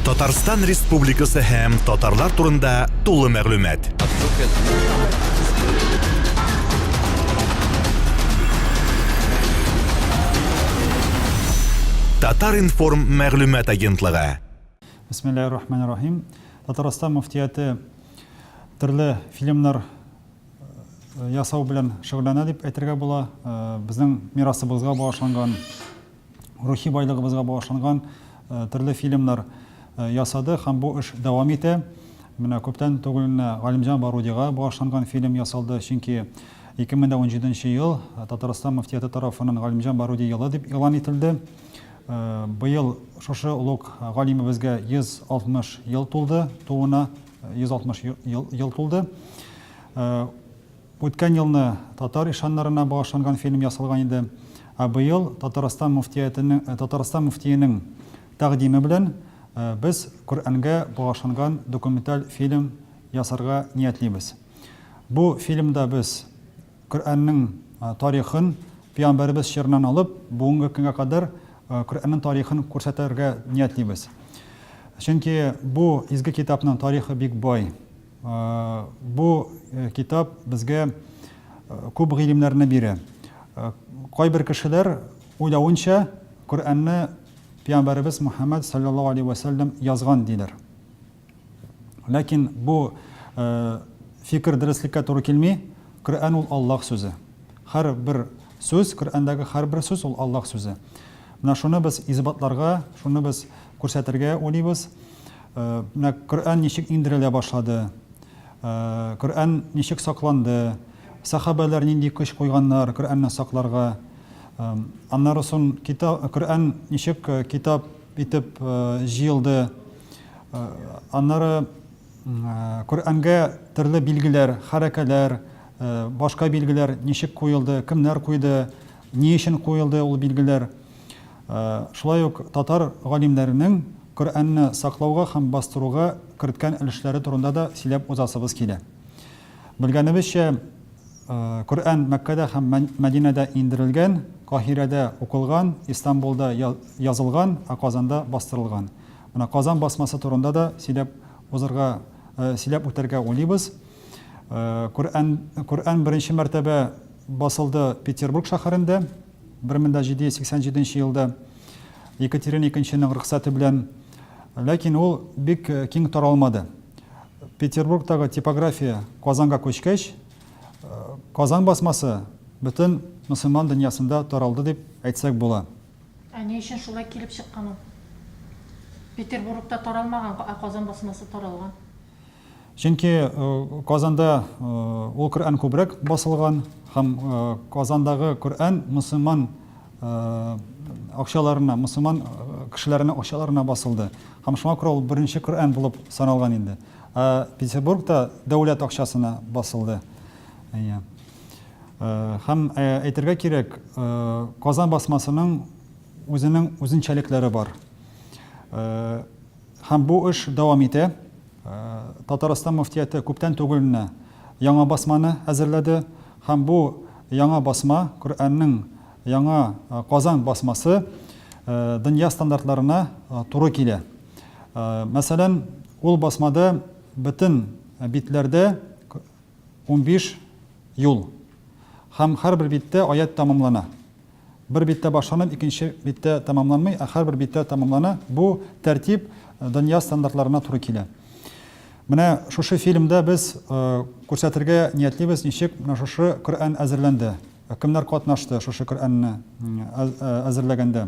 Татарстан Республикасы һәм татарлар турында тулы мәгълүмат. Татар информ мәгълүмат агентлыгы. Бисмиллаһир рахманир рахим. Татарстан муфтияте төрле фильмнар э, ясау белән шөгыльләнә дип әйтергә була. Э, безнең мирасыбызга багышланган рухи байлыгыбызга багышланган төрле фильмнар ясады һәм бу эш дәвам итә. Менә күптән түгел генә Галимҗан Барудига багышланган фильм ясалды, чөнки 2017 ел Татарстан мөфтияте тарафыннан Галимҗан Баруди елы дип игълан ителде. Быел шушы олуг галимебезгә 160 ел тулды, тууына 160 ел тулды. Үткән елны татар ишаннарына багышланган фильм ясалган иде, ә быел Татарстан мөфтиятенең Татарстан мөфтиенең тәкъдиме белән без Коръәнгә багышланган документаль фильм ясарга ниятлибез. Бу фильмда без Коръәннең тарихын, пәйгамбәребез чорыннан алып, бүгенге көнгә кадәр Коръәннең тарихын күрсәтергә ниятлибез. Чөнки бу изге китапның тарихы бик бай. Бу китап безгә күп гыйлемнәрне бирә. Кайбер кешеләр уйлавынча, Коръәнне пиамбәребез Мухәммәд салләллаһу алейһи вә сәлләм язган диләр. Ләкин бу фикер дөреслеккә туры килми. Коръән ул Аллаһ сүзе. Һәр бер сүз, Коръәндәге һәр бер сүз ул Аллаһ сүзе. Менә шуны без исбатларга, шуны без күрсәтергә уйлыйбыз. Менә Коръән ничек иңдерелә башлады, Коръән ничек сакланды, сәхабәләр нинди көч куйганнар Коръәнне сакларга, аннары сон Коръән ничек китап итеп җыелды, аннары Коръәнгә төрле билгеләр, хәрәкәләр, башка билгеләр ничек куелды, кемнәр куйды, ни өчен куелды ул билгеләр. Шулай ук татар галимнәренең Коръәнне саклауга һәм бастыруга керткән өлешләре турында да сөйләп узасыбыз килә. Белгәнебезчә, Коръән Мәккәдә һәм Мәдинәдә иңдерелгән, Каһирәдә укылган, Истанбулда язылган, ә Казанда бастырылган. Менә Казан басмасы турында да сөйләп узырга, сөйләп үтәргә уйлыйбыз. Коръән, Коръән беренче мәртәбә басылды Петербург шәһәрендә. Бер мең дә җиде йөз сиксән җиденче елда Екатерина икенченең рөхсәте белән, ләкин ул бик киң таралмады. Петербургтагы типография Казанга күчкәч, Казан басмасы бөтен мөселман дөньясында таралды дип әйтсәк була. Ә ни өчен шулай килеп чыккан ул? Петербургта таралмаган, ә Казан басмасы таралган. Чөнки Казанда ул Коръән күбрәк басылган һәм Казандагы Коръән мөселман акчаларына, мөселман кешеләренең акчаларына басылды. Һәм шуңа күрә ул беренче Коръән булып саналган инде. Ә Петербургта дәүләт акчасына басылды. Әйе. Һәм әйтергә кирәк, Казан басмасының үзенең үзенчәлекләре бар. Һәм бу эш дәвам итә. Татарстан мөфтияте күптән түгел менә яңа басманы әзерләде. Һәм бу яңа басма, Коръәннең яңа Казан басмасы дөнья стандартларына туры килә. Мәсәлән, ул басмада бөтен битләрдә унбиш юл һәм һәрбер биттә аять тәмамлана. Бер биттә башланып, икенче биттә тәмамланмый, ә һәрбер биттә тәмамлана. Бу тәртип дөнья стандартларына туры килә. Менә шушы фильмда без күрсәтергә ниятлибез, ничек менә шушы Коръән әзерләнде, кемнәр катнашты шушы Коръәнне әзерләгәндә.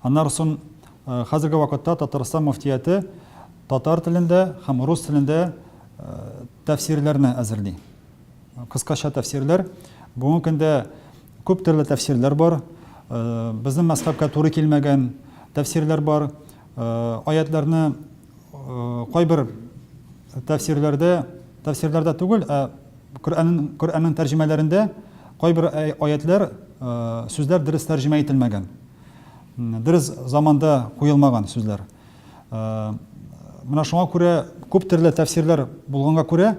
Аннары сон хәзерге вакытта Татарстан мөфтияте татар телендә һәм рус телендә тәфсирләрне әзерли. Кыскача тәфсирләр. Бүгенге көндә күп төрле тәфсирләр бар. Безнең мәзхәбкә туры килмәгән тәфсирләр бар. Аятларны Кайбер тәфсирләрдә, тәфсирләрдә түгел, ә Коръәннең Коръәннең тәрҗемәләрендә кайбер аятлар, сүзләр дөрес тәрҗемә ителмәгән. Дөрес заманда куелмаган сүзләр. Менә шуңа күрә күп төрле тәфсирләр булганга күрә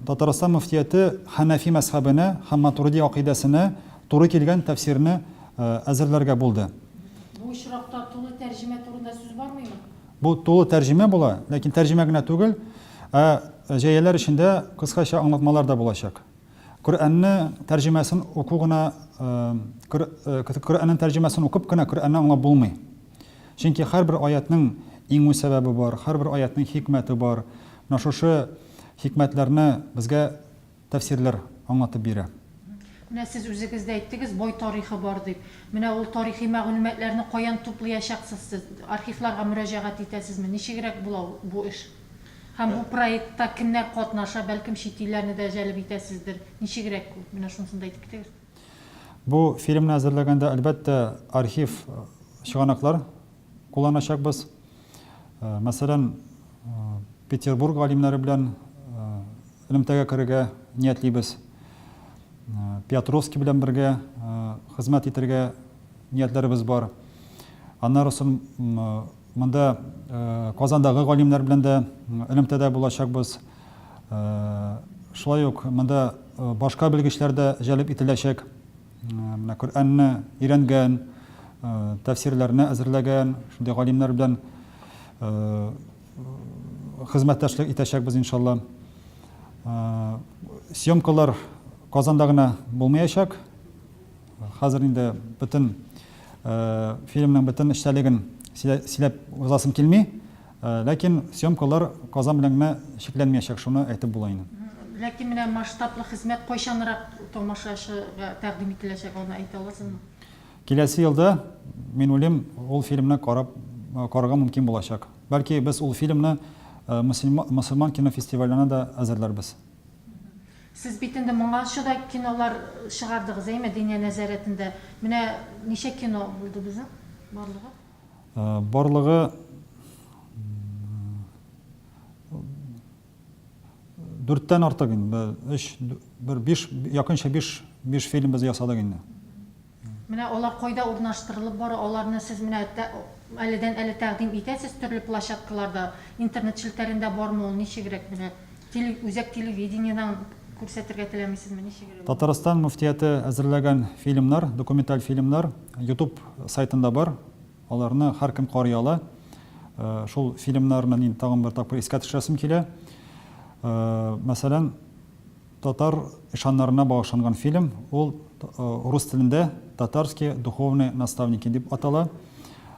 Татарстан мөфтияте Ханафи мәзхәбенә һәм Матурди акыйдәсенә туры килгән тәфсирне әзерләргә булды. Бу очракта тулы тәрҗемә турында сүз бармыймы? Бу тулы тәрҗемә була, ләкин тәрҗемә генә түгел, ә җәяләр эчендә кыскача аңлатмалар да булачак. Коръәнне тәрҗемәсен уку гына, Коръәннең тәрҗемәсен укып кына Коръәнне аңлап булмый. Чөнки һәрбер аятьнең иңү сәбәбе бар, һәрбер аятьнең хикмәте бар. Менә шушы хикмәтләрне безгә тәфсирләр аңлатып бирә. Менә сез үзегез дә әйттегез, бай тарихы бар дип. Менә ул тарихи мәгълүматларны каян туплыячаксыз сез? Архивларга мөрәҗәгать итәсезме? Ничегрәк була ул, бу эш? Һәм бу проектта кемнәр катнаша, бәлкем чит илләрне дә җәлеп итәсездер. Ничегрәк ул? Менә шунысын да әйтеп китегез. Бу фильмны әзерләгәндә, әлбәттә, архив чыганаклар кулланачакбыз. Мәсәлән, Петербург галимнәре белән Элемтәгә керергә ниятлибез. Пятровский белән бергә хезмәт итәргә ниятләребез бар. Аннары соң монда Казандагы галимнәр белән дә элемтәдә булачакбыз. Шулай ук монда башка белгечләр дә җәлеп ителәчәк. Менә Коръәнне өйрәнгән, тәфсирләрне әзерләгән шундый галимнәр белән хезмәттәшлек итәчәкбез иншалла. Съемкалар Казанда гына булмаячак. Хәзер инде бөтен фильмның бөтен эчтәлеген сөйләп узасым килми. Ләкин съемкалар Казан белән генә чикләнмәячәк, шуны әйтеп була инде. Ләкин менә масштаблы хезмәт кайчанрак тамашачыга тәкъдим ителәчәк, аны әйтә аласызмы? Киләсе елда, мин уйлыйм, ул фильмны карап карарга мөмкин булачак. Бәлки без ул фильмны мөселман кинофестивалена дә әзерләрбез. Сез бит инде моңарчы да кинолар чыгардыгыз, әйме, Диния нәзарәтендә. Менә ничә кино булды безнең барлыгы? Барлыгы... Дүрттән артык инде, бер өч, бер биш, якынча биш, биш фильм без ясадык инде. Менә алар кайда урнаштырылып бара, аларны сез менә әледән-әле тәкъдим итәсез төрле площадкаларда, интернет челтәрендә бармы ул, ничегрәк менә, теле, үзәк телевидениедән күрсәтергә теләмисезме, ничегрәк? Татарстан мөфтияте әзерләгән фильмнар, документаль фильмнар Ютуб сайтында бар. Аларны һәркем карый ала. Шул фильмнарны мин тагын бер тапкыр искә төшерәсем килә. Мәсәлән, татар ишаннарына багышланган фильм, ул рус телендә Татарские духовные наставники дип атала.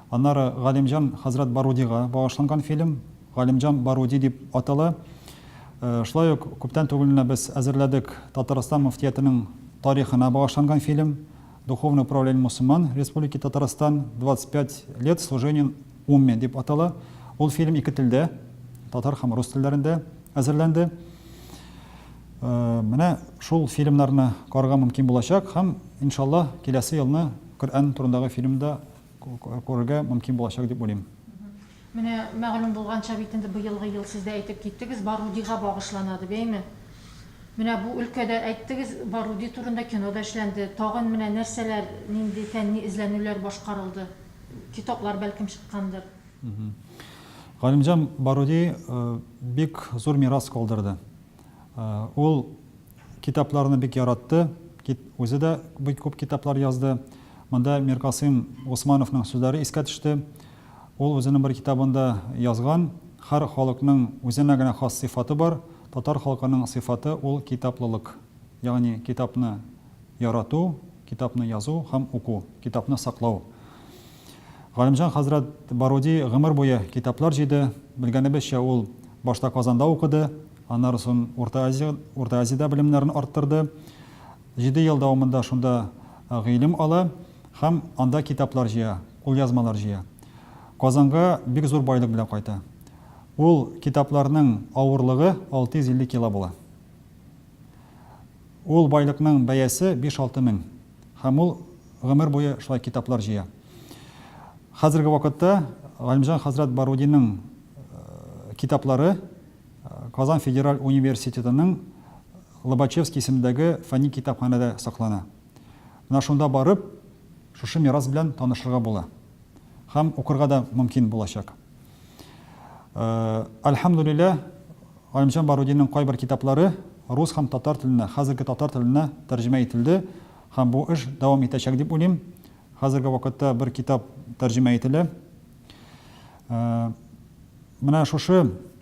Аннары Галимҗан хәзрәт Барудига багышланган фильм, Галимҗан Баруди дип атала. Шулай ук күптән түгел генә без әзерләдек Татарстан мөфтиятенең тарихына багышланган фильм. Духовное управление мусульман Республики Татарстан 25 лет служением умме дип атала. Ул фильм ике телдә, татар һәм рус телләрендә әзерләнде. Э, менә шул фильмнарны карга мөмкин булачак һәм иншаллаһ киләсе елны Коръән турындагы фильмда күрергә мөмкин булачак дип уйлыйм. Менә мәгълүм булганча бит инде быелгы ел, сез дә әйтеп киттегез, Барудига багышлана ди бәйме. Менә бу өлкәдә, әйттегез, Баруди турында кино да эшләнде. Тагын менә нәрсәләр, нинди фәнни эзләнүләр башкарылды? Китаплар бәлкем чыккандыр? Галимҗан Баруди бик зур мирас калдырды. Ул китапларны бик яратты, үзе дә бик күп китаплар язды. Монда Миркасыйм Госмановның сүзләре искә төште. Ул үзенең бер китабында язган, Һәр халыкның үзенә генә хас сыйфаты бар, татар халкының сыйфаты ул китаплылык, ягъни китапны ярату, китапны язу һәм уку, китапны саклау. Галимҗан хәзрәт Баруди гомер буе китаплар җыйды, белгәнебезчә ул башта Казанда укыды, аннары сон Урта Азия, Урта Азиядә белемнәрен арттырды, җиде ел дәвамында шунда гыйлем ала. Һәм анда китаплар җыя, кулъязмалар җыя. Казанга бик зур байлык белән кайта. Ул китапларның авырлыгы 650 кило була. Ул байлыкның бәясе биш-алты мең. Һәм ул гомер буе шулай китаплар җыя. Хәзерге вакытта Галимҗан хәзрәт Барудинның китаплары Казан федераль университетының Лобачевский исемендәге фәнни китапханәдә саклана. Менә шунда барып, шушы мирас белән танышырга була һәм укырга да мөмкин булачак. Әлхәмдүлилләһ, Галимҗан Барудинның кайбер китаплары рус һәм татар теленә, хәзерге татар теленә тәрҗемә ителде һәм бу эш дәвам итәчәк дип уйлыйм. Хәзерге вакытта бер китап тәрҗемә ителә. Менә шушы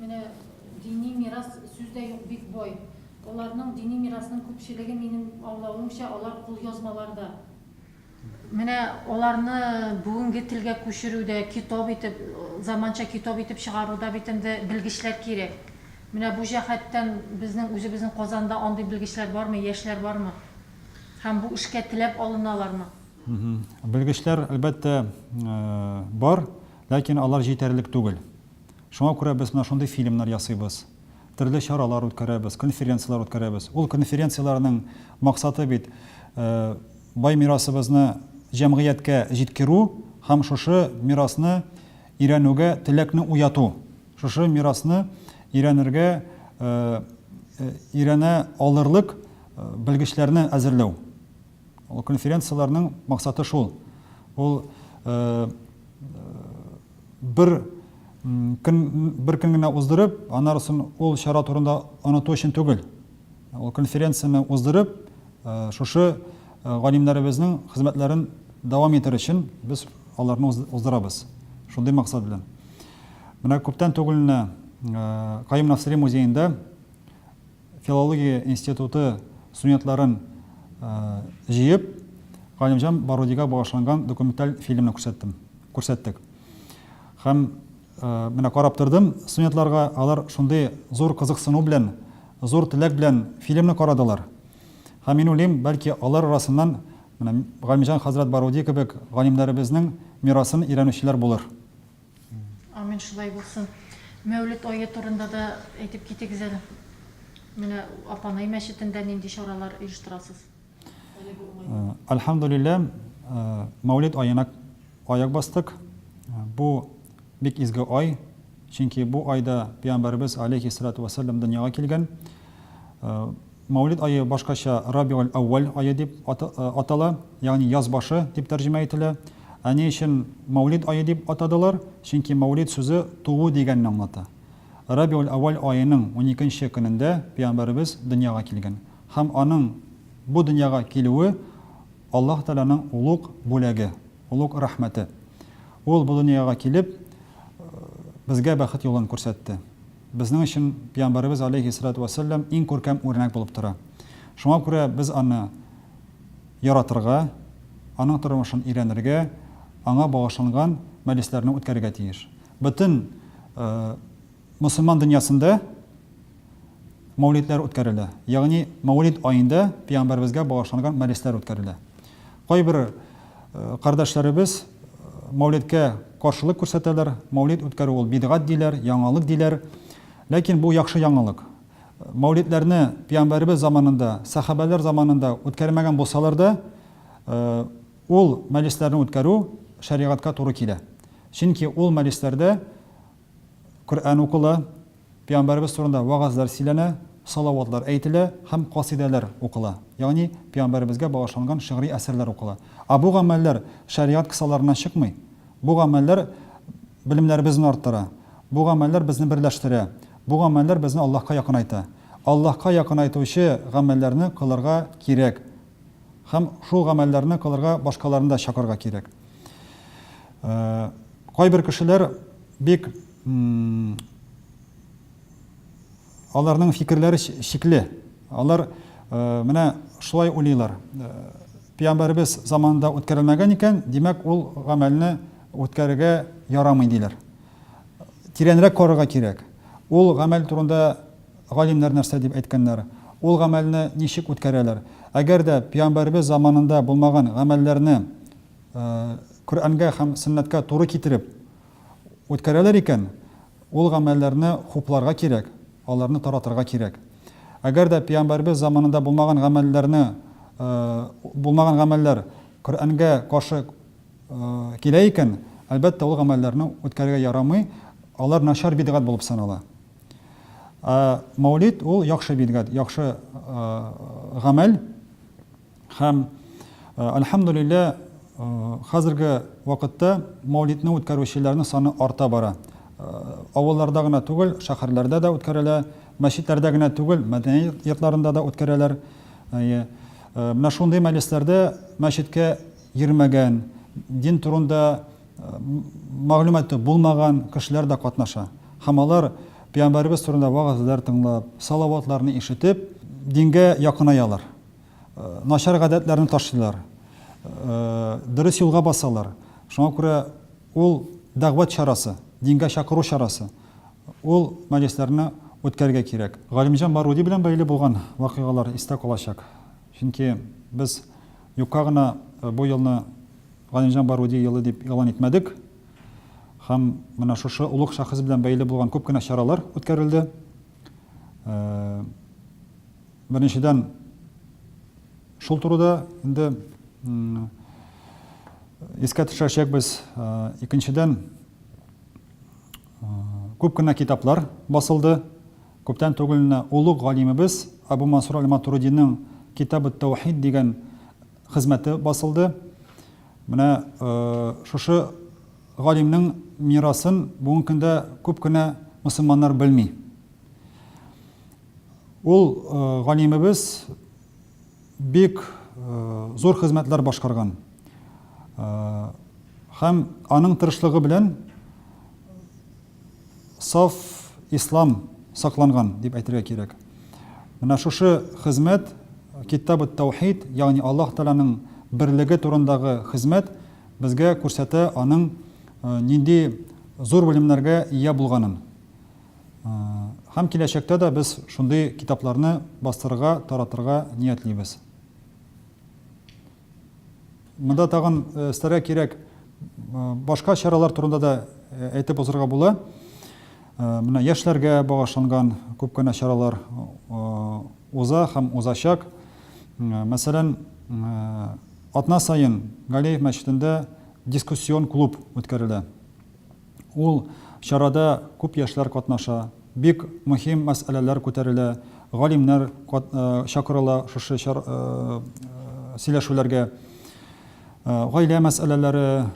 Менә дини мирас сүз дә юк бик бай. Аларның дини мирасның күпчелеге минем аңлавымча алар кулъязмаларда. Менә аларны бүгенге телгә күчерүдә китап итеп, заманча китап итеп чыгаруда бит инде белгечләр кирәк. Менә бу җәһәттән безнең үзебезнең Казанда андый белгечләр бармы, яшьләр бармы? Һәм бу эшкә теләп алыналармы? Белгечләр әлбәттә бар, ләкин алар җитәрлек түгел. Шуңа күрә без менә шундый фильмнар ясыйбыз. Төрле чаралар үткәрәбез, конференцияләр үткәрәбез. Ул конференцияләрнең максаты бит, бай мирасыбызны җәмгыятькә җиткерү һәм шушы мирасны өйрәнүгә теләкне уяту, шушы мирасны өйрәнергә өйрәнә алырлык белгечләрне әзерләү. Ул конференцияләрнең максаты шул, ул бер көн бер көн генә уздырып, аннары сон ул чара турында оныту өчен түгел. Ул конференцияне уздырып, шушы галимнәребезнең хезмәтләрен дәвам итәр өчен без аларны уздырабыз. Шундый максат белән. Менә күптән түгел менә Каюм Насыйри музеенда Филология институты студентларын җыеп, Галимҗан Барудига багышланган документаль фильмны күрсәттем. Күрсәттек. Һәм менә карап тордым студентларга, алар шундый зур кызыксыну белән, зур теләк белән фильмны карадылар. Һәм мин уйлыйм, бәлки алар арасыннан менә Галимҗан хәзрәт Баруди кебек галимнәребезнең мирасын өйрәнүчеләр булыр. Амин шулай булсын. Мәүлет ае турында да әйтеп китегез әле. Менә Апанай мәчетендә нинди чаралар оештырасыз? Әлхәмдулиллә, Мәүлет аена аяк бастык. Бу бик изге ай, чөнки бу айда пәйгамбәребез алейхи салату вәссәлам дөньяга килгән. Мәүлид ае башкача Рабигаль-әүвәл ае дип атала, ягъни яз башы дип тәрҗемә ителә. Ә ни өчен Мәүлид ае дип атадылар? Чөнки Мәүлид сүзе туу дигәнне аңлата. Рабигаль-әүвәл аеның уникенче көнендә пәйгамбәребез дөньяга килгән һәм аның бу дөньяга килүе Аллаһ Тәгаләнең олуг бүләге, олуг рәхмәте. Ул бу дөньяга килеп, безгә бәхет юлын күрсәтте. Безнең өчен Пиямбарыбыз алейһи салату вә сәлләм иң күркәм үрнәк булып тора. Шуңа күрә без аны яратырга, аның тормышын өйрәнергә, аңа багышланган мәҗлесләрне үткәрергә тиеш. Бөтен мөселман дөньясында мәүлидләр үткәрелә, ягъни мәүлид аенда Пиямбарыбызга багышланган мәҗлесләр үткәрелә. Кайбер кардәшләребез Мәүлидкә каршылык күрсәтәләр, Мәүлид үткәрү ул бидгать диләр, яңалык диләр. Ләкин бу яхшы яңалык. Мәүлидләрне Пиямбәребез заманында, сәхабәләр заманында үткәрмәгән булсалар да, ул мәҗлесләрне үткәрү шәригатькә туры килә. Чөнки ул мәҗлесләрдә Коръән укыла, пәйгамбәребез турында вәгазьләр сөйләнә, салаватлар әйтелә һәм касыйдәләр укыла, ягъни пәйгамбәребезгә багышланган шигъри әсәрләр укыла. Ә бу гамәлләр шәригать кысаларыннан чыкмый. Бу гамәлләр белемнәребезне арттыра. Бу гамәлләр безне берләштерә. Бу гамәлләр безне Аллаһка якынайта. Аллаһка якынайтучы гамәлләрне кылырга кирәк. Һәм шул гамәлләрне кылырга башкаларны да чакырырга кирәк. Кайбер кешеләр бик аларның фикерләре чикле. Алар менә шулай уйлыйлар, Пәйгамбәребез заманында үткәрелмәгән икән, димәк, ул гамәлне үткәрергә ярамый, диләр. Тирәнрәк карарга кирәк. Ул гамәл турында Галимнәр нәрсә дип әйткәннәр? Ул гамәлне ничек үткәрәләр? Әгәр дә пиамбәребез заманында булмаган гамәлләрне Коръәнгә һәм сөннәткә туры китереп үткәрәләр икән, ул гамәлләрне хупларга кирәк, аларны таратырга кирәк. Әгәр дә пиамбәребез заманында булмаган гамәлләрне булмаган гамәлләр Коръәнгә каршы килә икән, әлбәттә, ул гамәлләрне үткәрергә ярамый, алар начар бидгать булып санала. Ә Мәүлид ул яхшы бидгат, яхшы гамәл. Һәм Альхамдулилла, хәзерге вакытта Мәүлидне үткәрүчеләрнең саны арта бара. Авылларда гына түгел, шәһәрләрдә дә үткәрелә, мәчетләрдә генә түгел, мәдәни йортларында да үткәрәләр. Әйе. Менә шундый мәҗлесләрдә мәчеткә йөрмәгән, дин турында мәгълүматы булмаган кешеләр дә катнаша. Һәм алар пәйгамбәребез турында вагазлар тыңлап, салаватларны ишетеп, дингә якынаялар. Начар гадәтләрне ташлыйлар. Дөрес юлга басалар. Шуңа күрә ул дәгъват чарасы, дингә чакыру чарасы. Ул мәҗлесләрне үткәрергә кирәк. Галимҗан Баруди белән бәйле булган вакыйгалар истә калачак. Чөнки без юкка гына бу елны Галимҗан Баруди елы дип игълан итмәдек һәм менә шушы олуг шәхес белән бәйле булган күп кенә чаралар үткәрелде. Беренчедән, шул турыда инде искә төшерәчәкбез. Икенчедән, күп кенә китаплар басылды. Күптән түгел генә олуг галимебез Абу Мансур әл-Матуридиның Китаб ат-Таухид дигән хезмәте басылды. Менә шушы галимнең мирасын бүгенге көндә күп кенә мөселманнар белми. Ул галимебез бик зур хезмәтләр башкарган. Һәм аның тырышлыгы белән Саф ислам сакланган, дип әйтергә кирәк. Менә шушы хезмәт, Китаб ат-Таухид, ягъни Аллаһ Тәгаләнең берлеге турындагы хезмәт безгә күрсәтә аның нинди зур белемнәргә ия булганын. Һәм киләчәктә дә без шундый китапларны бастырырга, таратырга ниятлибез. Монда тагын өстәргә кирәк башка чаралар турында да әйтеп узарга була. Менә яшьләргә багышланган күп кенә чаралар уза һәм узачак. Мәсәлән, атна саен Галеев мәчетендә дискуссион клуб үткәрелә. Ул чарада күп яшьләр катнаша, бик мөһим мәсьәләләр күтәрелә, галимнәр чакырыла шушы сөйләшүләргә. Гаилә мәсьәләләре,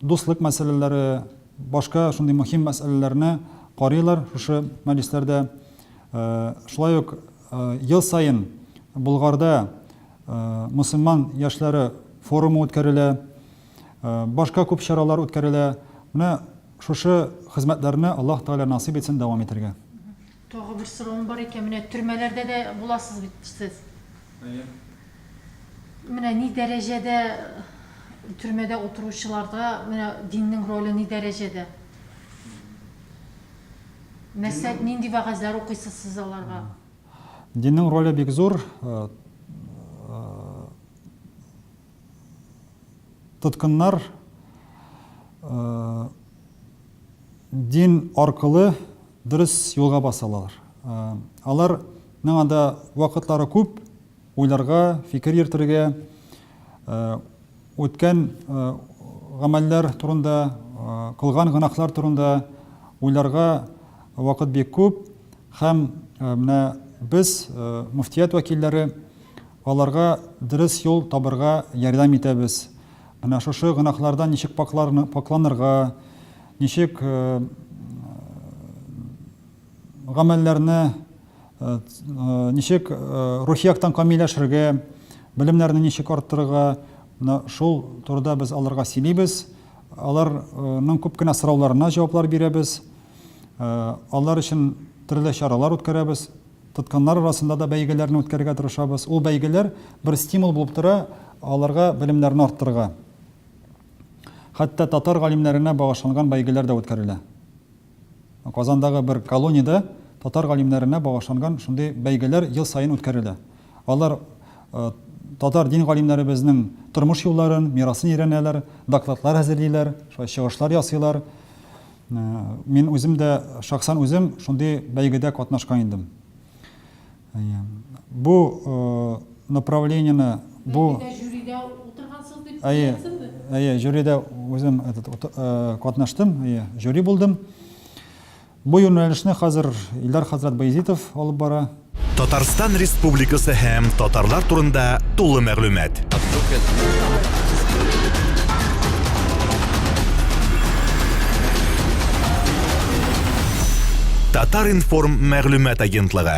дуслык мәсьәләләре, башка шундый мөһим мәсьәләләрне карыйлар шушы мәҗлесләрдә. Шулай ук ел саен Болгарда мөселман яшьләре форумы үткәрелә. Башка күп чаралар үткәрелә. Менә шушы хезмәтләрне Аллаһ Тәгалә насыйп итсен дәвам итәргә. Тагы бер соравым бар икән, менә төрмәләрдә дә буласыз бит сез. Әйе. Менә ни дәрәҗәдә төрмәдә утыручыларда менә диннең роле ни дәрәҗәдә? Нәрсә, нинди вәгазьләр укыйсыз сез аларга? Диннең роле бик зур. Тоткыннар дин аркылы дөрес юлга басалар. Алар миңа да вакытлары күп уйларга, фикер йөртергә, үткән гамәлләр турында, кылган гынахлар турында уйларга вакыт бик күп һәм менә без муфтият вәкилләре Аларга дөрес юл табырга ярдәм итәбез. Менә шушы гөнаһлардан ничек пакьларны, пакьланырга, ничек гамәлләрне, ничек рухи яктан камилләшергә, белемнәрне ничек арттырырга, менә шул турыда без аларга сөйлибез. Алар ның күп кенә сорауларына җаваплар бирәбез. Алар өчен төрле чаралар үткәрәбез. Тотканнар арасында да бәйгеләрне үткәрергә тырышабыз. Ул бәйгеләр бер стимул булып тора аларга белемнәрне арттырырга. Хәтта татар галимнәренә багышланган бәйгеләр дә үткәрелә. Казандагы бер колониядә татар галимнәренә багышланган шундый бәйгеләр ел саен үткәрелә. Алар татар дин галимнәребезнең тормыш юлларын, мирасын өйрәнәләр, докладлар әзерлиләр, шулай чыгышлар ясыйлар. Мин үзем дә, шәхсән үзем шундый бәйгедә катнашкан идем. Бу направлениене, бу Бәйгедә жюрида утыргансыз дип беләсезме? Әйе, жюрида үзем катнаштым, жюри булдым. Бу юнәлешне хәзер Илдар хәзрәт Баязитов алып бара. Татарстан Республикасы һәм татарлар турында тулы мәгълүмат. Татар-информ мәгълүмат агентлыгы.